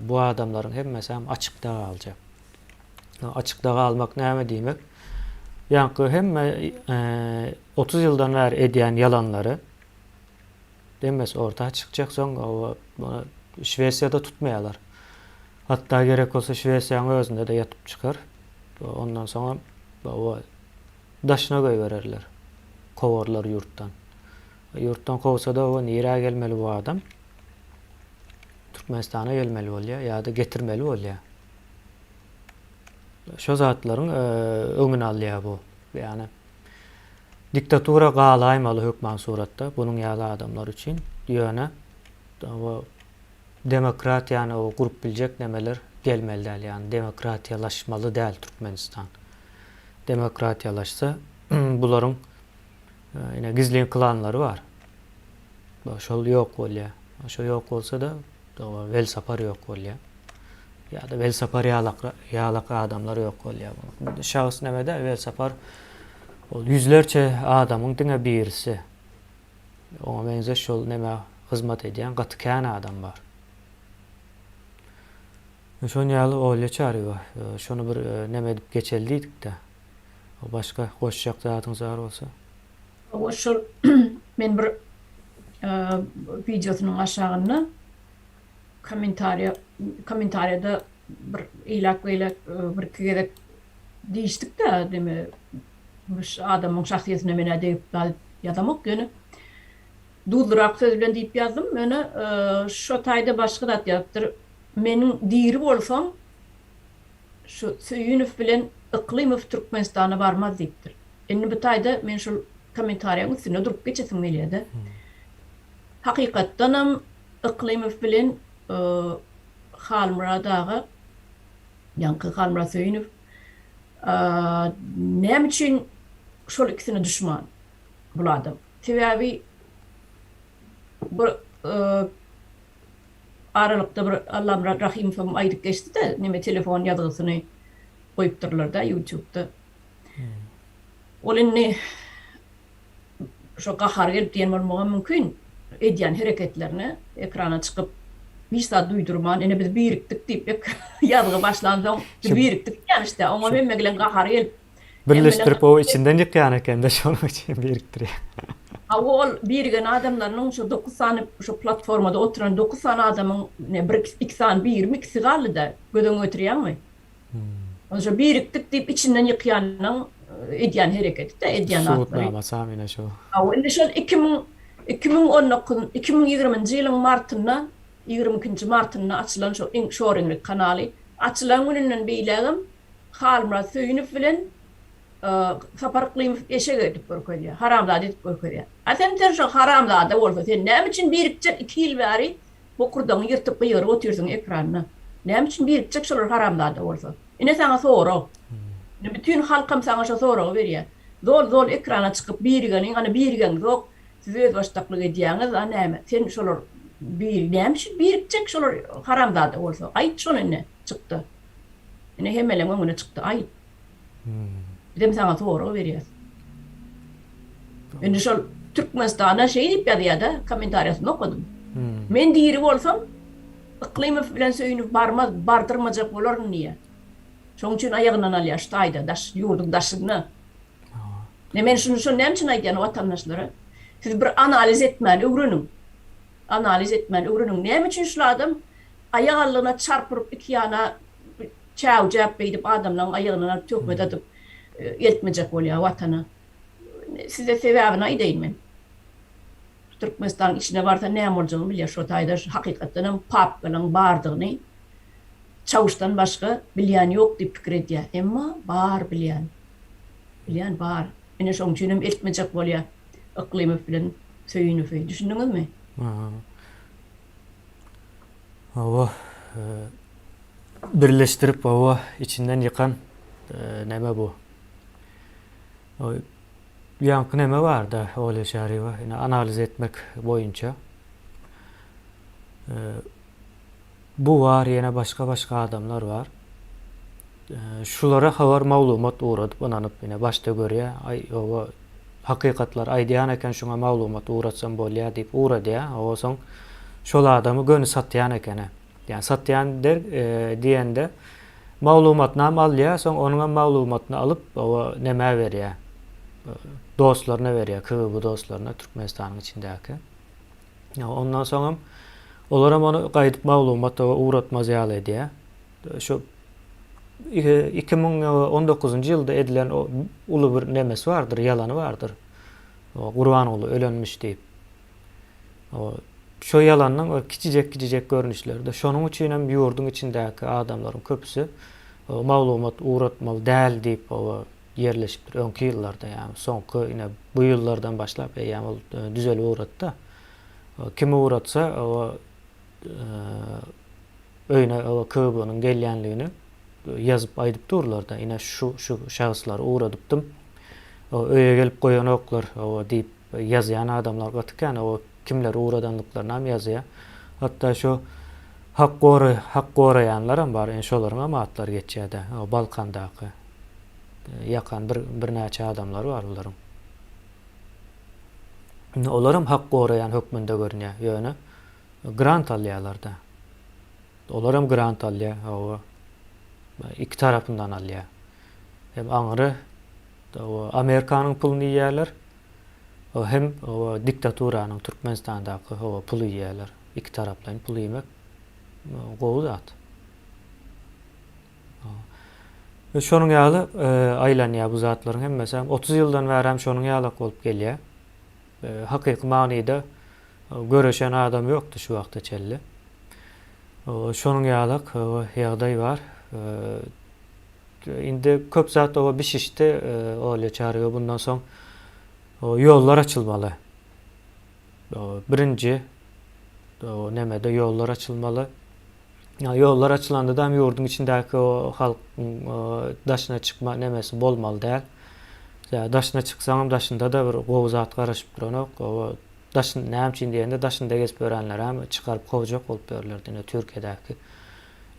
[SPEAKER 1] bu adamlaryň hemmesäm açykda galjak. Açykda galmak näme diýmek? Ýaňky hemme otuz ýyldan bäri edýän ýalanlary Demmes orta çykjak soň Şwesiýada tutmaýarlar. Hatda gerek bolsa Şwesiýaň özünde-de ýatyp çykar. Ondan soňam daşyna goýbererler. Kowarlar ýurtdan. Ýurtdan kowsa-da nirä gelmeli bu adam? Türkmenistana gelmeli bolýar ýa-da getirmeli bolýar. Şo zatlaryň öňüni alýar bu. Ýagny Diktatura galaýmaly hökman suratda bunuň ýaly adamlar üçin. Ýöne o demokratiýany o gurup biljek nemeler gelmeli däl. Ýagny demokratiýalaşmaly däl Türkmenistan. Demokratiýalaşsa bularyň ine gizlin klanlary bar. Şol ýok bolýar. Şo ýok bolsa-da Doga Welsapar ýok bolýar. Ýa-da Welsapar ýalak ýalak adamlar ýok bolýar. Şahs nämede Welsapar ol ýüzlerçe adamyň diňe birisi. Oňa meňzeş şol nämä hyzmat edýän gaty kän adam bar. Şonuň ýaly Olýa Çarywa şony bir näme edip geçeli diýdik-de. Başga goşjak zadyňyz bar bolsa. Hawa şol
[SPEAKER 2] men bir wideosynyň aşagynda kommentariýa kommentariýada bir eýläk beýläk bir iki gezek diýişdik-de deme adamyň şahsyýetine menä degip galyp ýazamok ýöne duzlyrak söz bilen diýip ýazdym ýöne şo taýda başga zat ýazypdyr meniň diri bolsam şu Söýünow bilen Yklymow Türkmenistana barmaz diýipdir. Indi bu taýda men şol kommentariýaň üstünde durup geçesim gelýär-de. Hakykatdanam Yklymow bilen Halmyrat aga, ýaňky Halmyrat Söýünow näme üçin şol ikisine duşman bul adam? Sebäbi bir aralykda bir Allamyrat Rahymowam aýdyp geçdi-de, neme telefon ýazgysyny goýupdyrlar-da ýutubda. Ol indi şo gahary gelip diýen bolmagam mümkin, edýän hereketlerine ekrana çykyp, hiç zat duýdurman, ine biz birikdik diýip ýazgy başlansoň, biz birikdik diýýän işte, oňa hemme gelen gahary gelip. Birleşdirip o
[SPEAKER 1] içinden ýykýan ekende şonuň üçin birikdirýär. Hawa ol
[SPEAKER 2] birigen adamlarynyň şu dokuz sany şu platformada oturan dokuz sany adamyň bir iki sany birimi ikisi galdyda göz öňüňe getirýäňmi? Onda şo birikdik diýip içinden ýykýanyň edýän hereketide edýän zatlary. Subutnamasy hem ine şu.
[SPEAKER 1] Hawa indi şol iki
[SPEAKER 2] müň iki müň on dokuz iki müň ýigriminji ýylyň martynda ýigrimi ikinji martynda açylan şo iň şoreňlik kanaly açylan gününden beýlägem Halmyrat Söýünow bilen Sapar Yklymow eşek edip görkezýär, haramzada edip görkezýär. A sen Serjo haramzada bolsa sen näme üçin birikjek iki ýyl bäri bokurdagyňy ýyrtyp gygyryp otyrsyň ekranda? Näme üçin birikjek şolar haramzada bolsa? Ine saňa sorag. Ine bütin halkam saňa şo soragy berýär. Zol zol ekrana çykyp birigeniň ana birigeňzok siz özbaşdaklyk edýäňiz a näme sen şolar bir näme üçin birikjek şolar haramzada bolsa aýt şony ine çykda. Ine hemeleň öňüne çykdy. Aýt. Bizem saňa sorag berýäs. Indi şol Türkmenistana şeý diýip ýazýada, kommentariýasyny okadym. Men diri bolsam, Yklymow bilen söýünip barmaz, bardyrmajak bolaryn diýýä. Şoň üçin aýagyndan alýa şu taýda daş ýurduň daşynda. Ne men şuny şo näme üçin aýdýan watandaşlara? Siz bir analiz etmän öwreniň. Analiz etmän öwreniň. Näme üçin şul adam aýak aldygyna çarp urup iki ýana çäwjäp beýdip adamlaň aýagynana töhmet adyp eltmejek bolýa watana size sebäbini aýdaýyn men Türkmenistanyň içine barsa näme boljagyny bilýä şo taýda hakykatdanam papkalaň bardygyny Çawuşdan başga bilýän ýok diýip pikir edýä emma bar bilýän bilýän bar ine şoň üçinem eltmejek bolýa Yklymow bilen Söýünowy düşündiňizmi?
[SPEAKER 1] Hawa, birleşdirip hawa içinden ýykan näme bu? Ýaňky näme barda Olýa Çaryýewa ine analiz etmek boýunça bu bar ýene başga-başga adamlar bar. Şulara habar maglumat ugradyp ynanyp ine başda görýä aý oba hakykatlar aýdýan eken şuňa maglumat ugratsam bolýa diýip ugradýa oba soň şol adamy göni satýan ekene ýa satýan diýende maglumatynam alýa soň onuňam maglumatyny alyp oba nämä berýä dostlaryna berýä kgb dostlaryna türkmenistanyň içindäki ondan soňam olaram ony gaýdyp maglumat oba ugratmaz ýaly edýä Şu iki müň on dokuzynjy ýylda edilen o uly bir nemesi bardyr, ýalany bardyr. O Gurbanguly ölenmiş diýip. O şo ýalanyň bir kiçijek-kiçijek görnüşleri-de. Şonuň üçin hem ýurduň içindäki adamlaryň köpüsi o maglumat ugratmaly däl diýip oba ýerleşipdir öňki ýyllarda. Ýagny soňky ine bu ýyllardan başlap eýýäm ol düzelip ugratdy. Kim ugratsa oba öýüne KGB-niň gelýänligini ýazyp aýdyp durlar-da, ine şu şu şahyslar ugradypdym. Öýe gelip goýanoklar diýip ýazýan adamlar gaty kän. Kimler ugradandyklaryny hem ýazýar. Hatda şu hak gory, hak goraýanlar hem bar. Ine şolaryň hem atlary geçýär-de. Balkandaky ýakan bir birnäçe adamlary bar bularyň. Indi olar hem hak goraýan hökmünde görünýär. Ýöne grant alýarlar-da. Olar hem grant alýar, hawa. Iki tarapyndan alýar. Hem aňry Amerikanyň puluny iýýärler, hem diktaturanyň, Türkmenistandaky puly iýýärler. Iki taraplaýyn pul iýmek gowy zat. Şonuň ýaly aýlanýar bu zatlaryň hemmesi. Otuz ýyldan bäri hem şonuň ýalak bolup gelýär. Hakyky manyda göreşen adam ýokdy şu wagta çenli. Şonuň ýalak ýagdaý bar. Indi köp zat oba bişişdi Olýa Çaryga bundan soň ýollar açylmaly. Birinji nemede ýollar açylmaly. Ýa ýollar açylanda da ýurduň içindäki o halk daşyna çykma nemesi bolmaly däl. Ýa daşyna çyksaňam daşynda da bir gowy zat garaşyp duranok. Oba daşyn näme üçin diýende daşynda gezip ýörenlerem çykaryp kowjak bolup ýörler diýne Türkiýedäki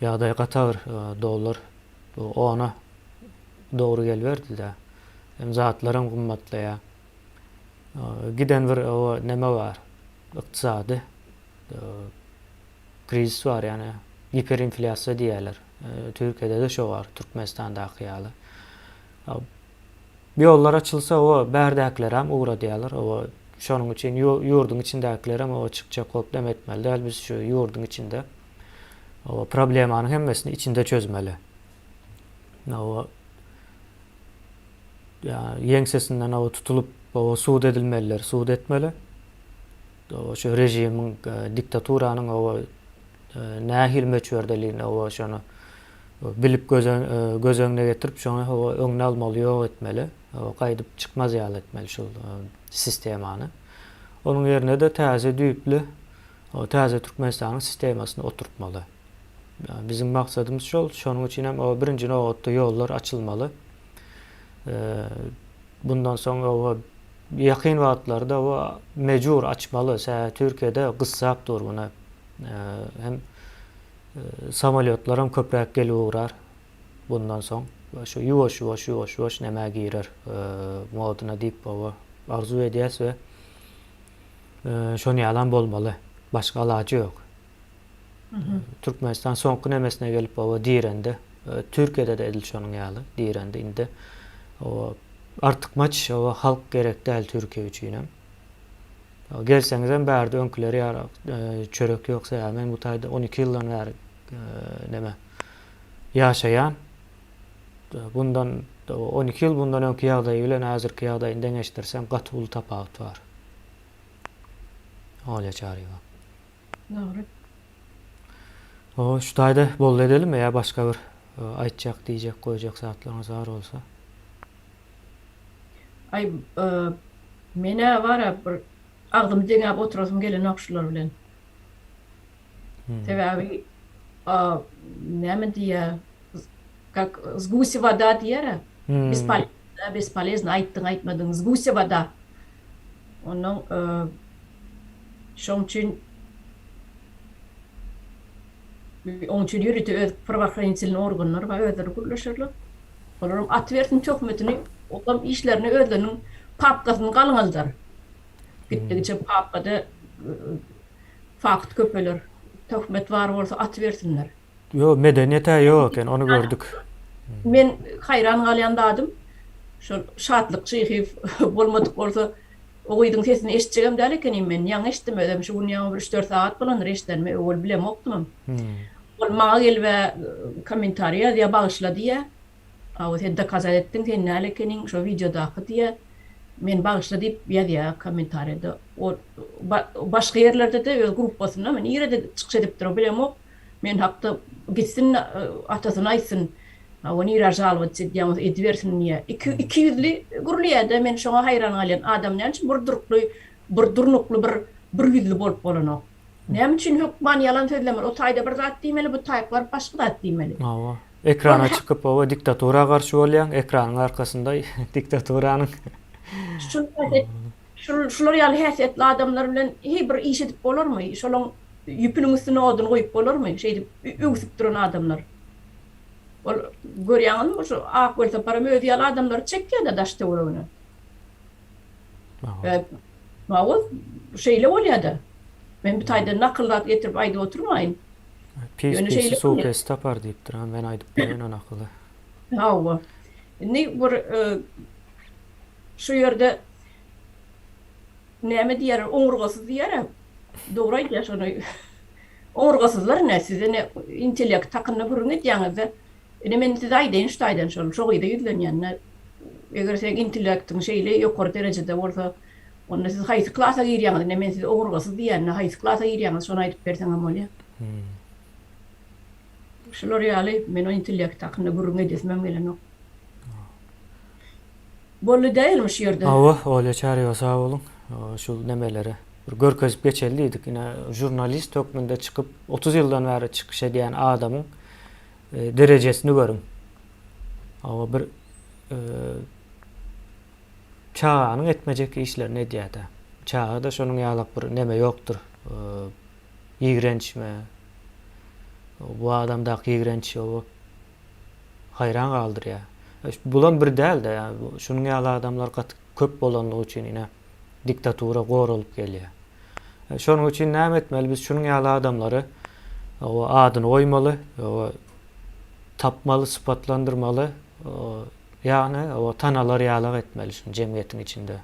[SPEAKER 1] ýagdaý gata bir dollar bu ona dogry geliberdida. Hem zatlaram gymmatlaýa. Giden bir oba neme bar ykdysady Krizis bar ýani giperinflýasiýa diýýärler. Türkiýede-de şo bar, Türkmenistandaky ýaly. Bu ýollar açylsa oba bärdäkilerem ugradýarlar. Oba şonuň üçin ýurduň içindäkilerem oba çykjak bolup dem etmeli däl. Biz şu ýurduň içinde oba problemanyň hemmesini içinde çözmeli. Oba ýa ýeňsesinden oba tutulyp oba sud edilmeliler, sud etmeli. Şu režimiň, diktaturanyň oba nähili möçberdeligini oba şony bilip göz öňüne getirip şony oba öňüni almaly ýok etmeli. Oba gaýdyp çykmaz ýaly etmeli şu sistemany. Onuň ýerine-de täze düýpli oba täze Türkmenistanyň sistemasyny oturtmaly. Biziň maksadymyz şol. Şonuň üçin hem oba birinji nobatda ýollar açylmaly. Bundan soň oba Ýakyn wagtlarda bu mejbur açmaly se Türkiýede gyssap dur muna hem samolýotlaram köpräk gelip ugrar bundan soň şu ýuwaş ýuwaş ýuwaş ýuwaş nämä girer moduna diýip oba arzuw edýäs we şony ýalam bolmaly başga alajy ýok. Türkmenistan soňky nemesine gelip oba direndi. Türkiýede de edil şonuň ýaly direndi. Indi oba artykmaç oba halk gerek däl Türkiýe üçin hem. Gelseňiz hem bärde öňküleri ýaly e, çörek ýoksa ýa men bu taýda 12 ýyldan bäri e, neme ýaşaýan. Bundan 12 ýyl bundan öňki ýagdaýy bilen häzirki ýagdaýyny deňeşdirseň gaty uly tapawut bar. Olýa Çaryýewa. Dogry. Ho
[SPEAKER 2] şu taýda boldy
[SPEAKER 1] edelimmi ýa başga bir aýtjak diýjek goýjak zatlaryňyz bar bolsa.
[SPEAKER 2] Aý menä bara bir agzymy deňäp oturasym gelenok şular bilen. Sebäbi näme diýýä kak z gusi wada diýýärä. Bespolezno bespolezno aýtdyň aýtmadyň z gusi wada Onuň şoň üçin oň üçin ýörite öz prawoohranitilnyý organlary bar, özleri gürleşerler. Olaram at bersin töhmetini, olam işlerini özleriniň papkasyny galňaldar. Gitdigiçe papkada fakt köpeler. Töhmet bar bolsa at bersinler. Ýok, medeniýet-ä
[SPEAKER 1] ýok eken, ony gördük. Men
[SPEAKER 2] haýran galýan zadym, şol Şatlyk Çyhyýew bolmadyk bolsa, o gyzyň sesini eşitjegem däl ekenim men. Ýaňy eşitdim özem, şu gün ýaňy bir üç-dört sagat bolandyr eşidenime, öwel bilemokdymam. Ol maňa gelib-ä kommentariý ýazýar, bagyşla diýýär. Hawa, sen dokazat etdiň, sen näl ekeniň, şo wideodaky diýýär. Meni bagyşla diýip ýazýar kommentariýada. Ol başga ýerlerde-de öz gruppasyna, nirede çykyş edipdir, bilemok. Men hakda gitsin atasyna aýtsyn, hawa nirä žalowatç edýäňiz edibersin diýýä. Iki iki ýüzli gürleýädä men şoňa haýran galýan adam näme üçin bir durkly bir durnukly bir bir ýüzli bolup bolanok. Näme üçin hökman ýalan sözlemeli o taýda bir zat diýmeli bu taýk baryp başga zat diýmeli. Hawa. Ekrana
[SPEAKER 1] çykyp hawa diktatura garşy bolýaň ekranyň arkasynda diktaturanyň.
[SPEAKER 2] Şul şular ýaly häsiýetli adamlar bilen heý bir iş edip bolarmy şolaň. Ýüpüniň üstüne odun goýup bolarmy? Şeýdip öwsüp duran adamlar. Ol, görýäňizmi, şu ak welsaparam özi ýaly adamlary çekýä-de daş-töweregine. Ä, Mawoz, şeýle bolýa-da. Men bu taýdan nakyl zat getirip aýdyp oturmaýyn. Pis-pisi
[SPEAKER 1] suw pes tapar diýipdir. Ä, men aýdyp bereýin o nakyly. Hawa.
[SPEAKER 2] Indi bir şu ýerde Näme diýýärler, oňurgasyz diýýärem. Dogry aýdýar şony. Oňurgasyzlar ne, size ne intellekt hakynda gürrüň edýäňizde, ine men size aýdaýyn şu taýdan şol, şo gyza ýüzlenýän. Eger seň intellektiň şeýle ýokary derejede bolsa, onda siz haýsy klasa girýäňiz, ine men size oňurgasyz diýende haýsy klasa girýäňiz şony aýdyp berseňem bolýar. Şular ýaly, men o intellekt hakynda gürrüň edesimem gelenok. Bolly dälmi şu ýerde. Hawa Olýa Çaryýewa
[SPEAKER 1] sag boluň. Şu nemeleri bir görkezip geçeli diýdik. Ine žurnalist hökmünde çykyp otuz ýyldan bäri çykyş edýän adamyň derejesini görüň. Hawa bir çaganyň etmejek işlerini edýädä. Çagada şonuň ýalak bir neme ýokdur. Ýigrençmi? Bu adamdaky ýigrenç oba. haýran galdyrýar. Bulam bir däl-de, ýa-ni şunuň ýaly adamlar gaty köp bolanlygy üçin ine diktatura goralyp gelýär. Şonuň üçin näme etmeli? Biz şunuň ýaly adamlary adyny goýmaly, tapmaly, sypatlandyrmaly, ýa-ni tanalar ýalak etmeli şuny jemgyýetiň içinde.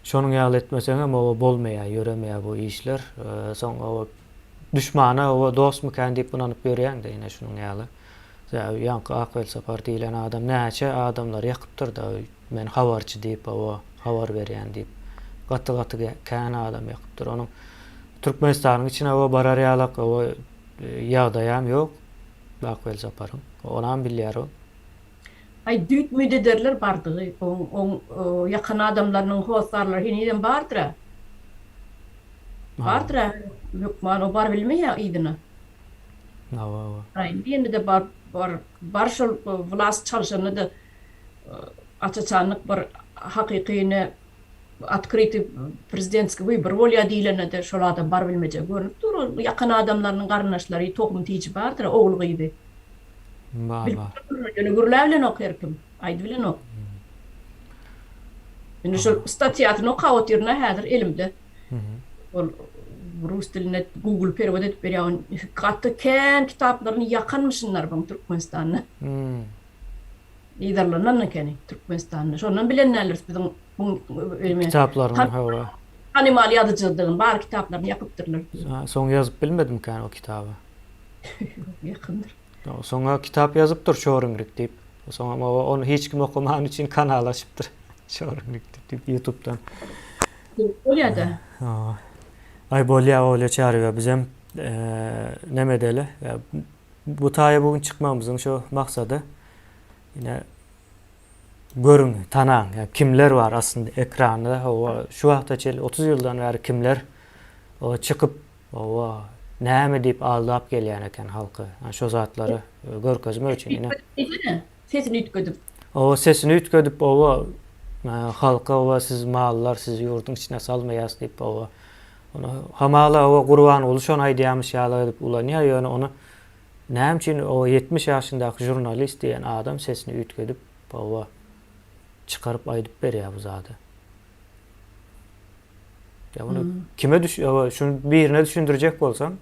[SPEAKER 1] Şonuň ýaly etmeseňem bolmaýar, ýöremeýär bu işler. Soň Duşmana oba dostmykän diýip ynanyp ýörýäňdä ine şunuň ýaly. Sebäbi ýaňky Ak Welsapar diýlen adam näçe adamlary ýakypdyrda men habarçy diýip oba habar berýän diýip. Gaty gaty kän adam ýakypdyr. Onuň Türkmenistanyň içine oba barar ýalak oba ýagdaýam ýok Ak Welsaparyň. Onam bilýär o. Aý,
[SPEAKER 2] düýt-müýt ederler bardygy. Oň ýakan adamlarynyň hossarlary henizem bardyr-a. Bardyr-a, hökman o baryp bilmeýär yzyna.
[SPEAKER 1] Hawa-hawa. Aý, indi
[SPEAKER 2] ýene-de bar, bar, bar şol wlast çalşanda-da, açaçanlyk bir hakyky ýene. Bu otkryty prezidentskiý wybory bolýa diýlende-de şol adam bar bilmejek görnüp dur. Ol ýakan adamlarynyň garyndaşlary, tohum tiji bardyr-a, ogly gyzy. Bar bar.
[SPEAKER 1] Ýöne
[SPEAKER 2] gürläbilenok her kim. Aýdybilenok. Indi şol statýasyny okap otyryn-a häzir elimde. Ol rus diline google perewod edip berýär. Ony gaty kän kitaplaryny ýakanmyşynlar buň Türkmenistanda. Niderlandan ekeni Türkmenistanda. Şondan bilen däldiris biziň
[SPEAKER 1] bu öýüme. Kitaplaryny hawa. Tanymal
[SPEAKER 2] ýazyjydygyny, bar kitaplaryny ýapypdyrlar. Soň ýazyp
[SPEAKER 1] bilmedimikän o kitaby.
[SPEAKER 2] Ýakyndyr. Soňa
[SPEAKER 1] kitap ýazypdyr Şoringrik diýip. Soňam ony hiç kim okaman üçin kanal açypdyr. Şoringrik diýip ýutubdan.
[SPEAKER 2] Bolýada. Hawa.
[SPEAKER 1] Aý bolýa bolýa Çary bizem neme edeli. Bu taýa bu gün çykmagymyzyň şu maksady ine görüň, tanaň, ýa kimler bar aslynda ekranda, hawa, şu wagta çenli otuz ýyldan bäri kimler çykyp, hawa, näme diýip aldap gelýän eken halky. Şo zatlary görkezmek üçin ine.
[SPEAKER 2] Sesini üýtgedip. Oba sesini
[SPEAKER 1] üýtgedip oba halka oba siz mallar sizi ýurduň içine salmaýas diýip oba ony hamala oba Gurbanguly şony aýdýamyş ýaly edip ulanýa ýöne ony näme üçin oba ýetmiş ýaşyndaky žurnalist diýen adam sesini üýtgedip oba çykaryp aýdyp berýä bu zady. Ýa bunu kime düş oba şuny birine düşündirjek bolsaň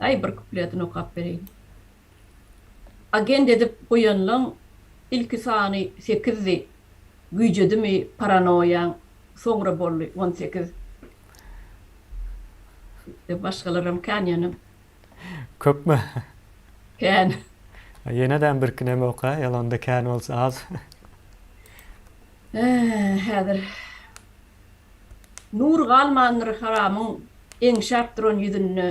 [SPEAKER 1] Daýy bir
[SPEAKER 2] kupletini okap bereýin. Agent edip goýanlaň ilki sany sekizdi güýjedimi paranoýaň soňra boldy on sekiz Ýa başgalaram kän ýöne. Köpmi? Kän.
[SPEAKER 1] Ýenedem birki näme oka ýalanda kän bolsa az.
[SPEAKER 2] Äh, häzir nur galmandyr haramyň eňşäp duran ýüzünde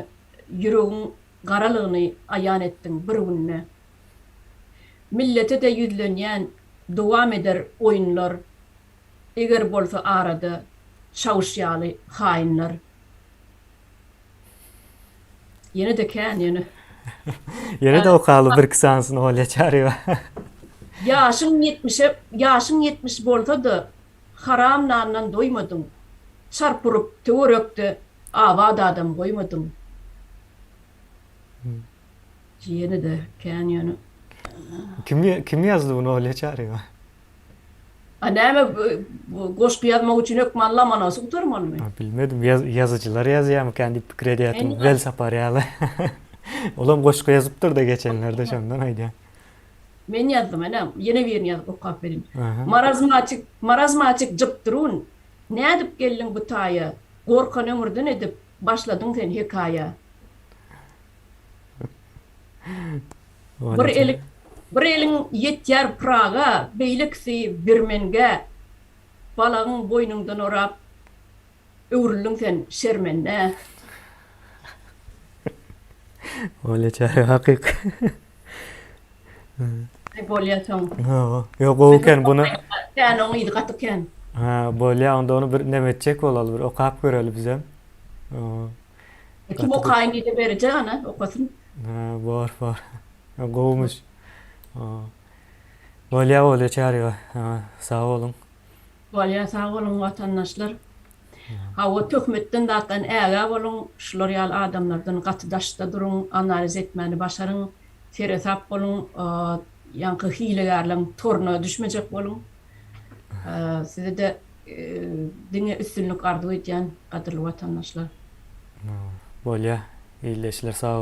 [SPEAKER 2] ýüregiň garalygyny aýan etdiň bir günde. Millete-de ýüzlenýän dowam eder oýunlar eger bolsa arada çawuş ýaly haýynlar. Ýene-de kän, ýene.
[SPEAKER 1] Ýene-de okaly birki sanysyny Olýa Çaryýewa. Ýaşyň ýetmişe,
[SPEAKER 2] ýaşyň ýetmiş bolsa-da, haram nandan doýmadyň. Çarp urup, töwerekde abat adam goýmadyň. Jiýeni-de kän ýöne.
[SPEAKER 1] Kim kim ýazdy muny Olýa Çaryýewa?
[SPEAKER 2] A näme goşgy ýazmak üçin hökman Lomonosy gutarmalymy? A bilmedim,
[SPEAKER 1] ýazyjylar ýazýarmykan diýip pikir edýärdim, Welsapar ýaly. Olam goşgy ýazypdyr-da geçenlerde şondan aýdýan. Men
[SPEAKER 2] ýazdym ene, ýene birini ýazyp okap berin. Marazmatik,
[SPEAKER 1] marazmatik
[SPEAKER 2] jypdyrun, Nädip geldiň bu taýa, Gorkan ömürden edip, başladyň sen hekaýa. Bir eli bir eliň ýetýär Pyraga, beýlekisi Birmengä, Balagyň boýnuňdan orap, öwrüldiň sen şermende.
[SPEAKER 1] Bolýa çary hakyk.
[SPEAKER 2] Aý bolýa soň. Hawa. Ýok
[SPEAKER 1] gowy eken buna. Kän oň yzy gaty
[SPEAKER 2] kän. Ha bolýa onda
[SPEAKER 1] ony bir näme etjek bolaly bir okap göreli bizem.
[SPEAKER 2] Kim okaýyn diýse berjek ana okasyn. Hä bor bor.
[SPEAKER 1] Gowumyş. Bolýa bolýa çaryga. Sag boluň. Bolýa sag
[SPEAKER 2] boluň watandaşlar. Hawa töhmetden zatdan ägä boluň şular ýaly adamlardan gaty daşda duruň analiz etmäni başaryň seresap boluň ýaňky hilegärleň toruna düşmejek boluň. Size-de diňe üstünlik arzuw edýän gadyrly watandaşlar.
[SPEAKER 1] Bolýa ildeşler
[SPEAKER 2] sag boluň.